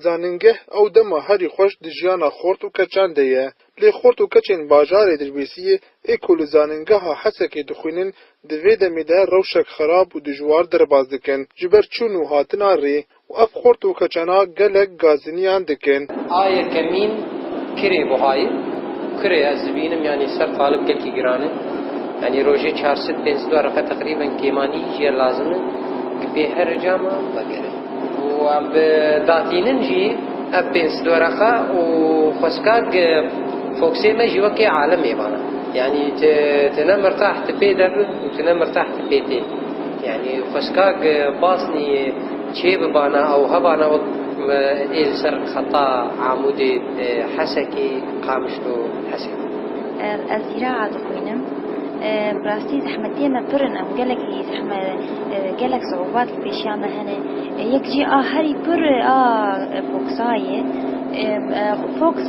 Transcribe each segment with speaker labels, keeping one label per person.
Speaker 1: Zanîngeh ew dema herî xweş di jiyana xort û keçan de ye. Lê xort û keçên bajarê Dilbêsiyê ê ku li zanîngeha Hesekê dixwînin di vê demê de rewşek xerab û dijwar derbas dikin ji ber çûn û hatina rê. Û ev xort û xecana gelek gaziniyan dikin. Aye kemîn
Speaker 2: kirê buhayî. Kurê ez dibînim yanî ser talib gelkî giran e. Yanî rojê çar sed pênc sed wereqe teqrîben kêmanî jî ye lazim e ku pê her ecama vegere. Û em bi datînin jî ev pênc sed wereqe û xweskak foksê me jî wekê alimê vana. Yanî tu tu ne mirtah tu pê de bi û tu ne mirtah tu pê tê. Yanî xweskak basnî. Çê bi bana ew hebana wek ê li ser xeta Amûdê, Hesekê, Qamişlo û Hesekê. Ez zîraa
Speaker 3: dixwînim. Bi rastî zehmetiyê me pir in em gelek gelek siûbat li pêşiya me hene. Yek jî a herî pir a Foksa ye. Foks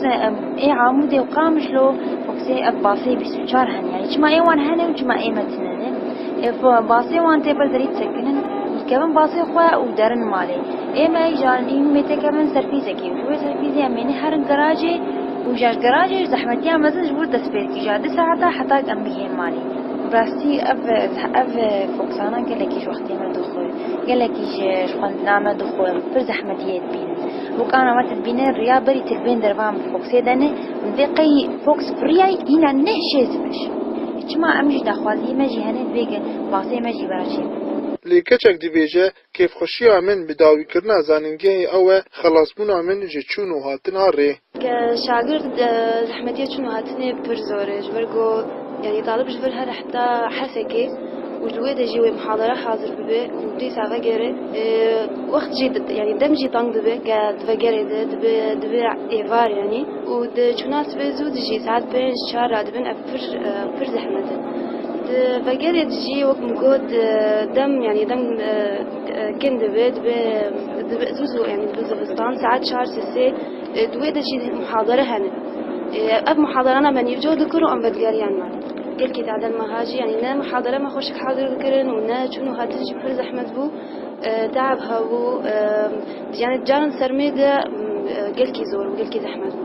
Speaker 3: ê Amûdê û Qamişlo foksê ev bafê bîst û çar heniyayî. Çima ê wan hene û çima ê me tune ne. Ev basê wan tê pir zerî disekinin, dikevin basê xwe û derin malê. Ê me ji alînî me tê kevin serpîzekê û ji wê serpîzê em êne herin gerajê û ja ji gerajê ji zehmetiya mezin ji wir dest pê dikî ja du saeta heta em bigihên malê. Bi rastî ev ev foksana gelekî ji wextê me dixwe, gelekî ji xwendina me dixwe, pir zehmetî yê dibînin. Bokana me tu dibîne riya berî tu li bên dervan bi foksê de ne, divê qey foks biriyay hîna ne şêz biş. Çima em jî daxwaziyê me jî hene divê ke basê me jî vera çê be. Lê keçek
Speaker 1: dibêje, kêfxweşiya min bi dawîkirina zanîngehê ew e, xelasbûna min ji çûn û hatina rê. Ke şagird
Speaker 4: zehmetiya çûn û hatinê pir zor e, ji ber ku yanî talib ji vir here heta hesekê û li wê de jî wê mihadara hazir bibe û dîsa vegere. Wext jî yanî dem jî teng dibe ke divegere de, dibe êvar yanî û di çûna sibê zû de jî saet pênc çar radibin. Pir pir zehmet e. Di vegerê de jî wek min got dem yanî dem kin dibe dibe dibe zû zû yanî dibe zivistan saet çar sê sê di wê de jî muhadere hene. Ev muhaderan em nîvco dikirin û em vedigeriyan me. Gelkî taden meha jî yanî ne muhadere me xweşik hazir dikirin û ne çûn û hatin jî pir zehmet bû. Teab hebû, yanî caran sermê de gelkî zor bû, gelkî zehmet bû.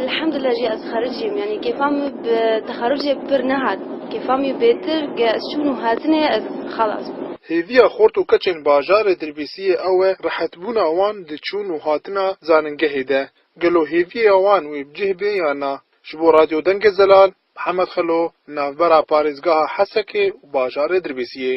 Speaker 4: Elhamdulillah jî ez xericî im, yanî kêfa min bi texerûcê pir nehat. Kêfa min bêtir ke ez çûn û hatinê ez xelas bûm. Hêviya xort
Speaker 1: û keçên bajarê Dirbêsiyê ew e rehetbûna wan di çûn û hatina zanîngehê de. Gelo hêviya wan wê bi cih bê yan na? Ji bo Radyo Dengê Zelal, Mihemed Xelo, li navbera parêzgeha Hesekê û bajarê Dirbêsiyê.